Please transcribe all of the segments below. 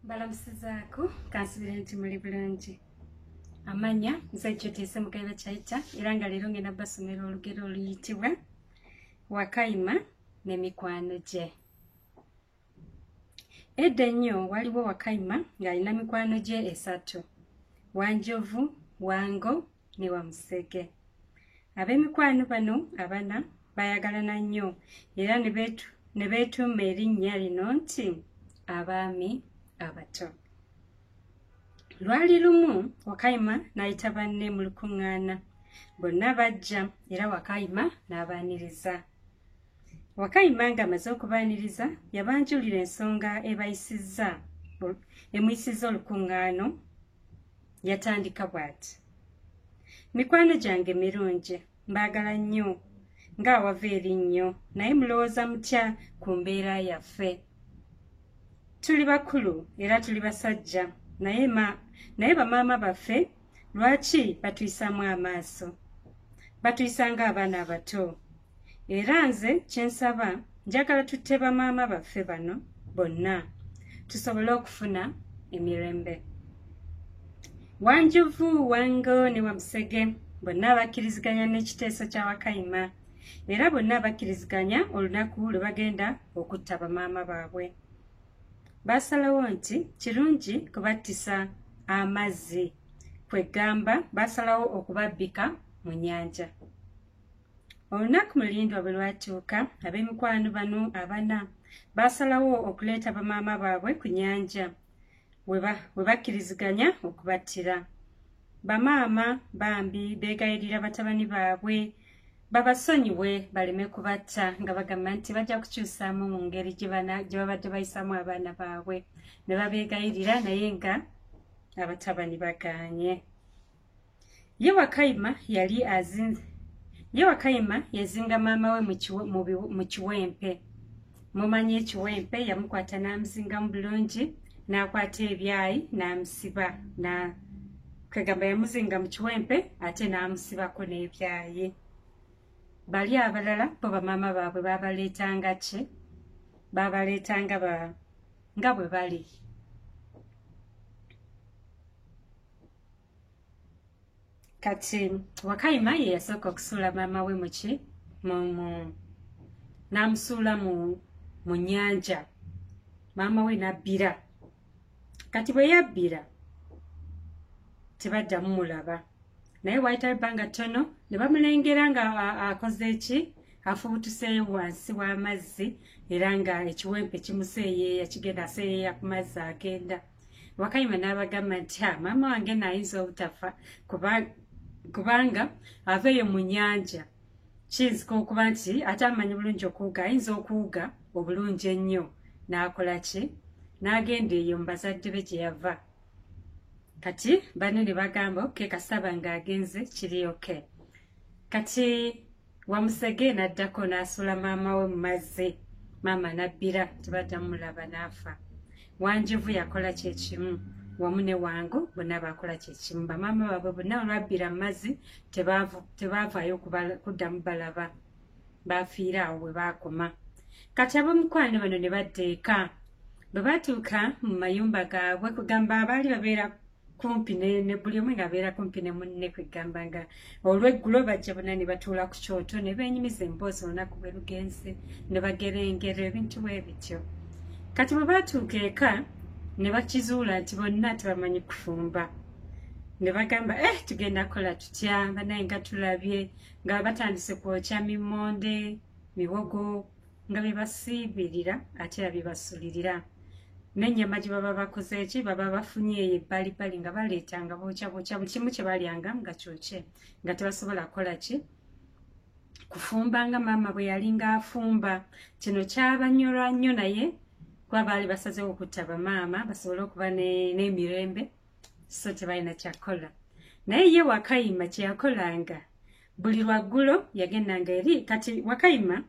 balamusizaako kansubira nti muli bulungi amanya nze kyoteese mukaiba kyaita era nga leero ngenda basomera olugero oluyitibwa wakayima ne mikwano gye edda ennyo waliwo wakayima ng'alina mikwano gye esatu wanjovu wango ne wamusege ab'emikwano bano abana bayagalana nnyo era ne beetuuma erinnya lino nti abaami abato lwali lumu wakayima n'ayita banne mu lukuŋŋaana bonna bajja era wakayima n'abaaniriza wakayima ng'amaze okubaaniriza yabanjulira ensonga ebayisizza emuyisizza olukuŋŋaano yatandika bw'ati mikwano gyange mirungi mbaagala nnyo ng'awava eri nnyo naye mulowooza mutya ku mbeera yaffe tuli bakulu era tuli basajja naye bamaama baffe lwaki batuyisaamu amaaso batuyisa ng'abaana abato era nze kyensaba njagala tutte bamaama baffe bano bonna tusobole okufuna emirembe wanjuvu wango ne wamusege bonna abakkiriziganya n'ekiteeso kya wakayima era bonna bakkiriziganya olunaku lwe bagenda okutta bamaama baabwe baasalawo nti kirungi kubattisa amazzi kwe ggamba baasalawo okubabbika mu nyanja olunaku mulindwa bwe lwatuuka ab'emikwano bano abana baasalawo okuleeta bamaama baabwe ku nyanja we bakkiriziganya okubattira bamaama bambi beegayirira batabani baabwe babasonyiwe baleme kubatta nga bagamba nti bajja kukyusaamu mu ngeri gye babadde bayisaamu abaana baabwe ne babeegayirira naye nga abatabani bagaanye ye wakayima yali azinze ye wakayima yazinga maama we mu kiwempe mumanyi ekiwempe yamukwata n'amuzingamu bulungi n'akwata ebyayi n'amusiba na kwegamba yamuzinga mu kiwempe ate n'amusibako n'ebyayi bali abalala bo bamaama baabwe babaleetanga ki babaleetanga ba nga bwe bali kati wakayima ye yasooka okusuula maama we muki mumu n'amusuula mu mu nyanja maama we nabbira kati bwe yabbira tebaddamu mulaba naye waayitawo ebbanga ttono ne bamulengera nga akoze eki afubutuseeyo wansi w'amazzi era nga ekiwempe kimuseeyeeya kigenda aseeyeeya ku mazzi agenda wakayima n'abagamba nti ha maama wange naayinza obutafa kubanga aveeyo mu nyanja kiyinzika okuba nti ate amanyi bulungi okuwuga ayinza okuwuga obulungi ennyo n'akola ki n'agenda eyo mu bazadde be gye yava kati banne ne bagamba oke kasaba ng'agenze kiri oke kati wamusege naddako n'asuula maama we mu mazzi maama nabbira tebaddamu mulaba n'afa wanjovu yakola kye kimu wamu ne wangu bonna bakola kye kimu bamaama baabwe bonna olwabbira mu mazzi tebaavaayo kuddamu balaba baafiira awo bwe baakoma kati ab'omukwano bano ne badda eka bwe batuuka mu mayumba gaabwe kugamba abaali babeera kumpi ne buli omu ng'abeera kumpi ne munne kwegamba nga olweggulo bajja bona ne batuula ku kyoto ne beenyumiza emboozi olunaku bwe lugenze ne bagera engero ebintu bwe bityo kati bwe baatuuka eka ne bakizuula nti bonna tebamanyi kufumba ne bagamba e eh, tugenda kukola tutya banaye nga tulabye nga batandise kwokya mimonde miwogo nga bebasiibirira ate era bebasulirira nenyama gyebaba bakoze eki baba bafunye eyo ebbalibali nga baleeta nga bookya bookya buli kimu kyebalyanga nga kyokye nga tebasobola kukola ki kufumba nga maama bwe yalinga afumba kino kyabanyola nnyo naye kuba baali basazewo okutta bamaama basobole okuba n'emirembe so tebalina kyakukola naye ye wakayima kyeyakolanga buli lwaggulo yagendanga eri kati wakayima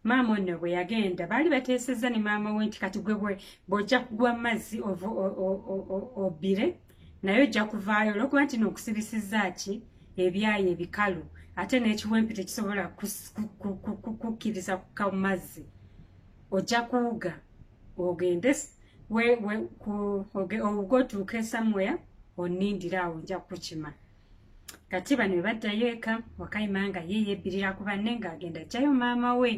maama onno bwe yagenda baali bateesezza ne maama we nti kati gwe bwojja kugwa mu mazzi obbire naye ojja kuvaayo olwokuba nti nookusibisizza ki ebyayi ebikalu ate n'ekiwempe tekisobola kukkiriza kukka mu mazzi ojja kuwuga ogende ogotuuka esamuya onindire awo nja kukima kati bano webaddayo eka wakayima nga ye yebbirira ku banne ng'agenda jjayo maama we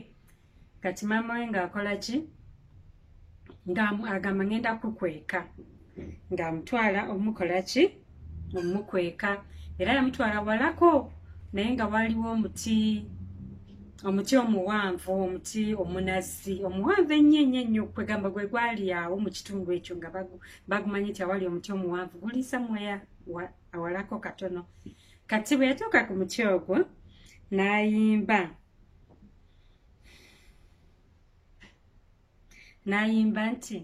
kati maama we ng'akola ki ng'agamba ngenda kukweka ng'amutwala omukola ki omukweka era yamutwala walako naye nga waliwo omuti omuti omuwanvu omuti omunazi omuwanvu ennyo ennyo ennyo kwegamba gwe gwali awo mu kitundu ekyo nga bagumanyi nti awali omuti omuwanvu guli samuweya awalako katono kati bwe yatuuka ku muti ogwo n'ayimba n'ayimba nti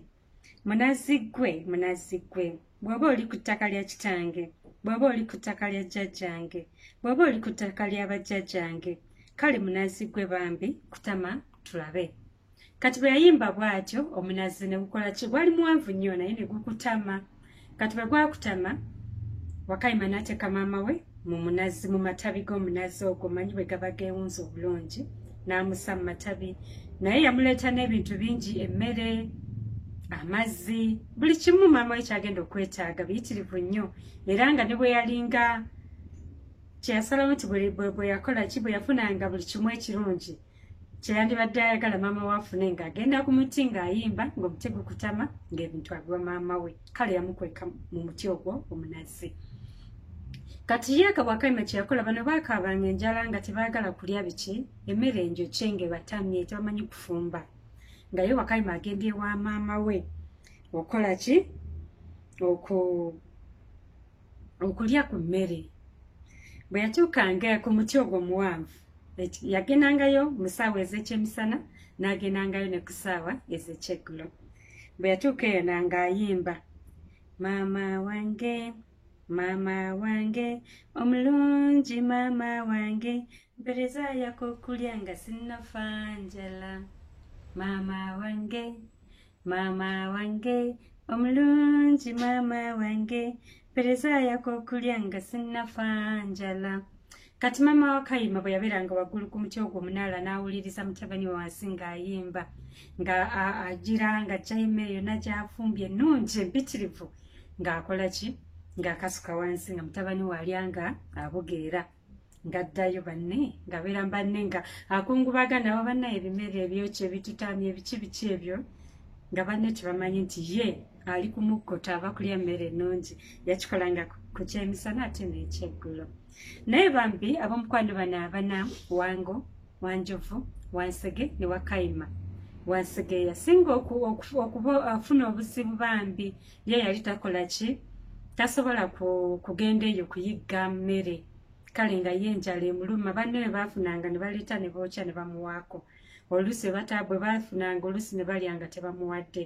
munazi ggwe munazi ggwe bw'oba oli ku ttaka lya kitange bw'oba oli ku ttaka lya jjajjange bw'oba oli ku ttaka lya bajjajjange kale munazi ggwe bambi kutama tulabe kati bwe yayimba bw'atyo omunazzi ne gukola ki gwali muwanvu nnyo naye ne gukutama kati bwe gwakutama wakayima n'ateeka maama we mu munazzi mu matabi g'omunazzi ogwo manyi bwe gaba geewunza obulungi n'amusa mu matabi naye yamuleeta n'ebintu bingi emmere amazzi buli kimu maama we kyagenda okwetaaga biyitirivu nnyo era nga ne bwe yalinga kyeyasalawo nti bwe yakola ki bwe yafunanga buli kimu ekirungi kyeyandibadde ayagala maama we afune ng'agenda ku muti ng'ayimba ng'omuti gukutama ng'ebintu abiwa maama we kale yamukweka mu muti ogwo omunazi kati ye akabwakaima kyeyakola bano baakaabanga enjala nga tebaagala kulya biki emmere enjokye ng'ebatamye tebamanyi kufumba nga ye wakaima agenda ewa maama we okola ki oku okulya ku mmere bwe yatuukanga ku muti ogwo omuwanvu yagendangayo mu ssaawa ez'ekyemisana n'agendangayo ne ku ssaawa ez'ekyeggulo bwe yatuuka eyo nanga ayimba maama wange maama wange omulungi maama wange mpereza yakokulya nga sinnafa njala maama wange Mama wange omulungi mama wange pereza yako okulya nga sinnafa njala kati mama wakayima bwe yabeeranga waggulu ku muti ogwo omunaala n'awuliriza mutabani wansi ng'ayimba nga agira nga jayima eyo nagyafumbye ennungi empitirivu ng'akola ki ng'akasuka wansi nga mutabani waalya nga abugeera ngaddayo banne ngabeera banne nga akungubaga nabo banna ebimere ebyokyo ebitutaamya ebiki biki ebyo nga banne tebamanyi nti ye ali kumukkuta aba kulya mmere ennungi yakikolanga ku kyemisana ate n'ekyeggulo naye bambi ab'omukwano bano abana wango wanjovu wansege ne wakayima wansigeeya singa okufuna obuzibu bambi ye yali takola ki tasobola kugenda eyo kuyigga mmere kale nga ye enjala emuluma banne bwe baafunanga ne baleeta ne bookya ne bamuwaako oluusi bwe baafunanga oluusi ne balya nga tebamuwadde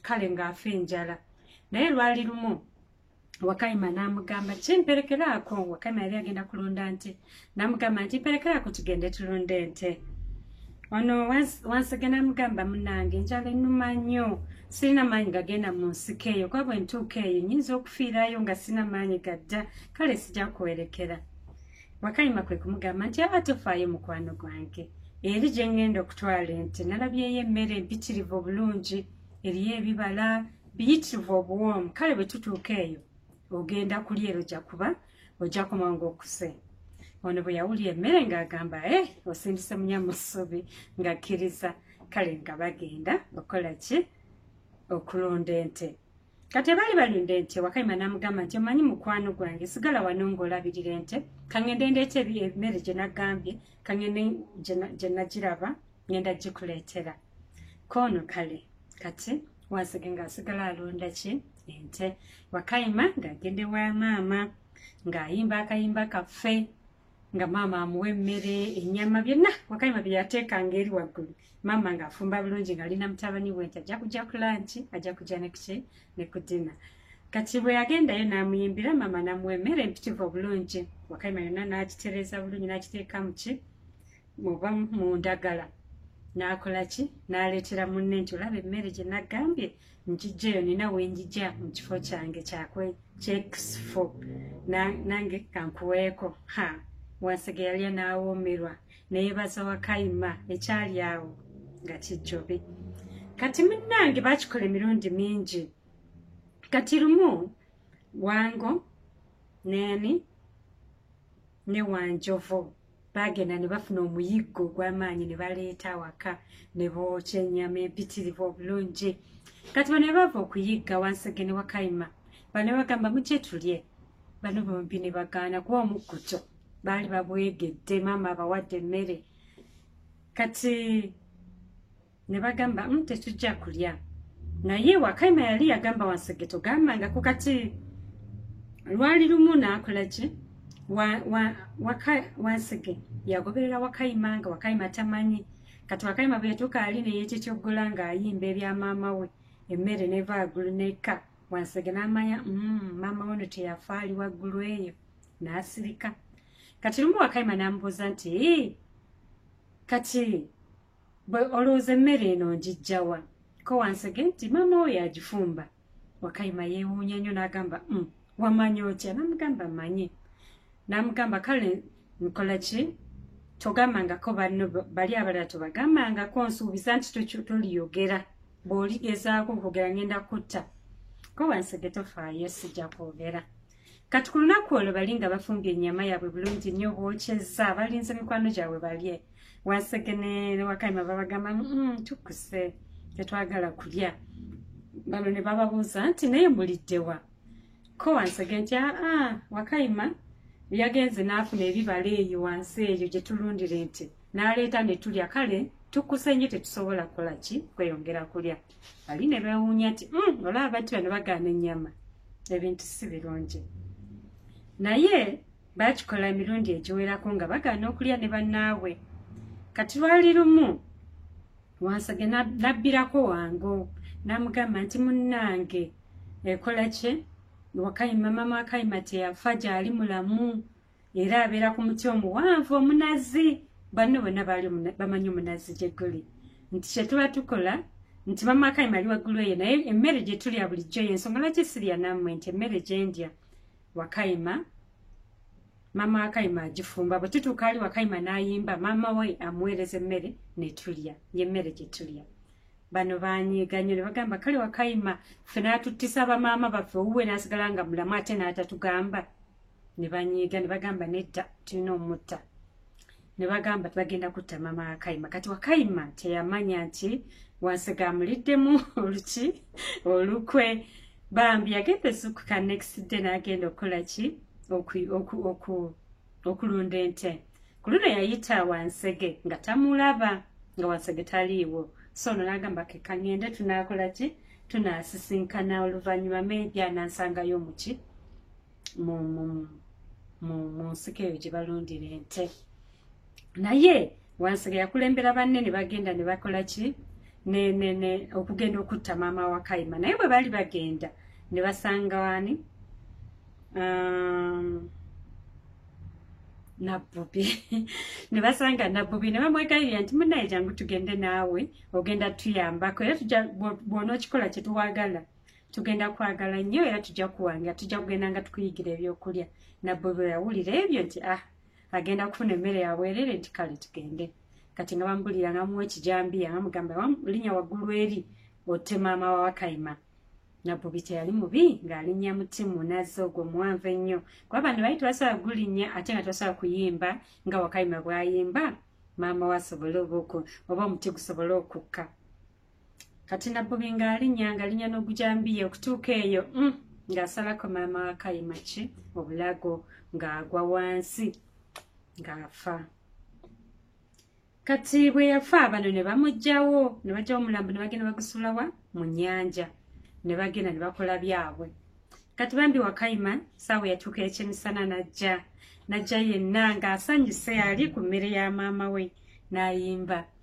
kale ng'afa enjala naye lwali lumu wakayima n'amugamba kimperekeraako wakayima yali agenda kulunda nti namugamba nti mperekerako tugende tulunda ente ono wansege namugamba munange enjala enuma nnyo sirina maanyi gagenda mu nsiko eyo kuba bwe ntuuka eyo nyinza okufiirayo nga sirina maanyi gadda kale sija kuwerekera wakayima kwe kumugamba nti aba tofaayo mukwano gwange eri gye ngenda okutwala ente nalabyeyo emmere empitirivu obulungi eriyo ebibala biyitirivu obuwoomu kale bwe tutuuka eyo ogenda kulya ero ja kuba ojja kumanga okuse ono bwe yawulira emmere ng'agamba e eh, osindise munya mu ssubi ng'akkiriza kale nga bagenda okola ki okulunda ente kati abaali balunda ente wakayima n'amugamba nti omanyi mukwano gwange sigala wano ng'olabirira ente kangende ndeeta ebiemmere gye nagambye kangende gye nagiraba ngenda gikuleetera koono kale kati wansege ng'asigala alonda ki ente wakayima ng'agende wa maama ng'ayimba akayimba kaffe nga maama amuwa emmere ennyama byonna wakayima bye yateekanga eri waggulu maama ng'afumba bulungi ng'ali na mutabani we nti ajja kujja ku lanki ajja kujja nekuki ne ku dina kati bwe yagendayo n'amuyimbira maama n'amuwa emmere empitivu obulungi wakayima yonna n'agitereeza bulungi n'agiteeka mu ki oba mu ndagala n'akola ki n'aleetera munne nti olaba emmere gye nagambye njijja eyo nina wenjija mu kifo kyange kyakwe kyekisifo nange kankuweeko ha wansege yalya n'awoomerwa neyebaza wakayima ekyali awo nga kijjobi kati munnange bakikola emirundi mingi kati lumu wango neni ne wanjovu baagenda ne bafuna omuyiggo ogw'amaanyi ne baleeta awaka ne bookya ennyama empitirivu obulungi kati bano be bava okuyigga wansi ge ne wakayima bano bagamba mugye tulye bano bombi ne bagaana kuba omukkuto baali babwegedde maama abawadde emmere kati ne bagamba mm, tetujja kulya naye wakaima yali yagamba wansege togambangako kati lwali lumu nakola ki wansege yagoberera wakaima nga wakaima tamanyi kati wakaima bwetuka ali neyekyekyoggola ngaayimba ebya maama we emmere neva agulu neka wansege namanya mm, maama weno teyafa ali waggulu eyo nasirika kati lumu wakaima namubuuza nti kati bwe olowooza emmere eno ngijjawa ko wansege nti maama oyo agifumba wakayima yeewuunya nnyo n'agamba mm, wamanya otya namugamba manye namugamba kale nkola ki togambangako banno bali abalala tobagambangako nsuubiza nti toliyogera bw'oligezaako okugera ngenda kutta ko wansege tofaayo sijja kwogera kati ku lunaku olwo bali nga bafumbye ennyama yaabwe bulungi nnyo bwokyezza balinze mikwano gyabwe balye wansegene ne wakayima babagamba mm, tukuse tetwagala kulya bano ne bababuuza nti naye muliddewa ko wansege nti aa ah, ah, wakayima yagenze n'afuna ebibala eyo wansi eyo gye tulundire nti n'aleeta ne tulya kale tukuse nnyo tetusobola kukola ki kweyongera kulya bali ne beewuunya nti hmm, olaba abantu bano bagaana ennyama ebintu si birungi naye baakikola emirundi egiwerako nga bagaana okulya ne bannaabwe kati lwali lumu wansage nabbirako wango n'amugamba nti munnange ekola kye wakayima mama wakayima teyafa gyali mulamu era abeera ku muti omuwanvu omunazi banno bonna baali bamanyi omunazi gye guli nti kye tuba tukola nti bamakayi mali waggulu eyo naye emmere gye tulya bulijjo y'ensonga lwaki sirya nammwe nti emmere gye ndya wakayima maama wakayima agifumba bwe tutuuka ali wakayima n'ayimba maama we amuweereza emmere ne tulya y'emmere gye tulya bano banyiiga nnyo ne bagamba kale wakayima ffe n'atuttisa bamaama baffe owuwe n'asigala nga mulamu ate n'atatugamba ne banyiiga ne bagamba nedda tulina omutta ne bagamba tibagenda kutta mama wakayima kati wakayima teyamanya nti wansigamuliddemu oluki olukwe bambi yagenda esukuka next day nagenda okukola ki okulunda ente ku luno yayita wansege nga tamulaba nga wansege taliiwo so ono nagamba kekangende tunakola ki tunasisinkana oluvannyuma maybe anansangayo muki mu nsiko eyo gye balundira ente naye wansega yakulembera banne ne bagenda ne bakola ki okugenda okutta maama wa kayima naye bwe baali bagenda ne basanga wani um, nabbubi ne basanga nabbubi ne bamwegayirira nti munaye jangu tugende naawe ogenda tuyambako era bw'onookikola kye tuwagala tugenda kwagala nnyo era tujja kuwangira tujja kugenda nga tukuyigira ebyokulya nabwe bwe yawulira ebyo nti ah agenda kufuna emmere yabwerere nti kale tugende kati nga bamubulira nga muwa ekijambiya nga mugamba linya waggulu eri otte maama wa wakayima nabubi teyali mubi ng'alinnya muti munazi ogwo muwanvu ennyo kuba bano bali tebasobola kugulinnya ate nga tebasobola kuyimba nga wakayima bwayimba maama we asobole oba oku oba omuti gusobole okukka kati nabbubi ngaalinya ngalinya n'ogujambiya okutuuka eyo mm, ng'asalako maama wa kayima ki obulago ng'agwa wansi ng'afa kati bwe yafa bano ne bamugjawo ne bajja omulambo ne bagenda bagusulawa mu nyanja ne bagenda ne bakola byabwe kati bambi wakayima saawa yatuuka ekyemisana najja najja yenna ng'asanyuse ali ku mmere ya maama we n'ayimba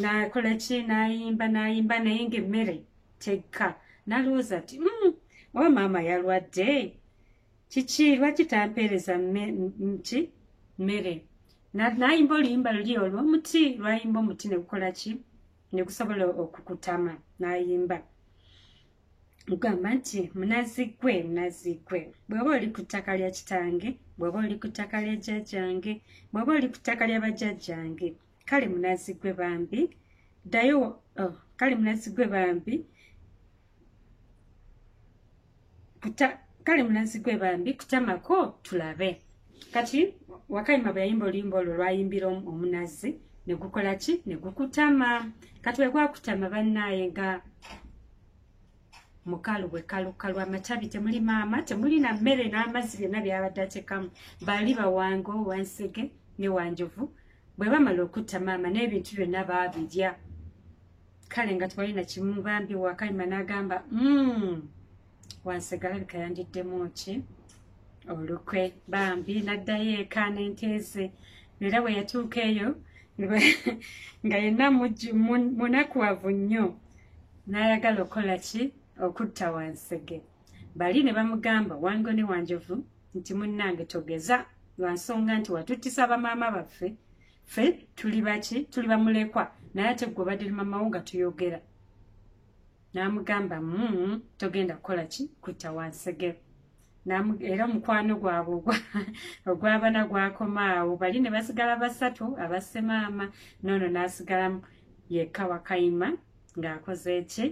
nakola ki nayimba nayimba naye nga emmere tegka nalowooza ti mm, oba maama yalwadde kiki lwaki tampeereza ki mmere nayimba oluyimba luli olwo omuti lwayimba omuti negukola ki negusobola okukutama nayimba ogamba nti munazigwe munazigwe bweba oli ku ttaka lya kitange bweba oli ku ttaka lya jjajjange bweba oli ku ttaka lya bajjajjange kale munazi gwe bambi ddayo oh, kale munazi gwe bambi kuta kale munazi gwe bambi kutamako tulabe kati wakayima bwe yayimba oluyimba olwo lwayimbira omunazi ne gukola ki ne gukutama kati bwe gwakutama bannaaye nga mukalu bwe kalukalu amatabi temuli maama temuli na mmere n'amazzi byonna byabadde atekamu bali bawango wansege ne wanjovu bwe bamala okutta maama n'ebintu byonna baabirya kale nga twalina kimu bambi wakayima n'agamba mm, wansegalabika yandiddemu ki olukwe bambi naddayo eka n'enteeze era bwe yatuuka eyo nga yenna munakuwavu nnyo n'ayagala okukola ki okutta wansege bali ne bamugamba wango ne wanjovu nti munnange togeza lwa nsonga nti watuttisa bamaama baffe ffe tuli baki tuli bamulekwa naye ate gwe obadde li mamawo nga tuyogera n'amugamba mu mm, togenda kukola ki kutta wansegero era omukwano gwabwe ogwabana gwakomaawo bali ne basigala basatu abassemaama noono n'asigalamu yekka wakayima ng'akoze eki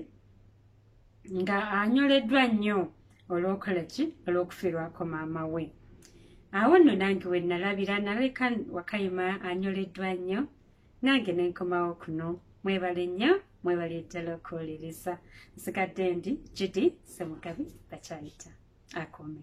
nga anyoleddwa nnyo olwokola ki olw'okufiirwako maama we awo nno nange we nalabira naleka wakayima anyoleddwa nnyo nange ne nkomawo kuno mwebale nnyo mwebale ddala okuwuliriza nsigadde ndi gidi semugabi bakyayita akome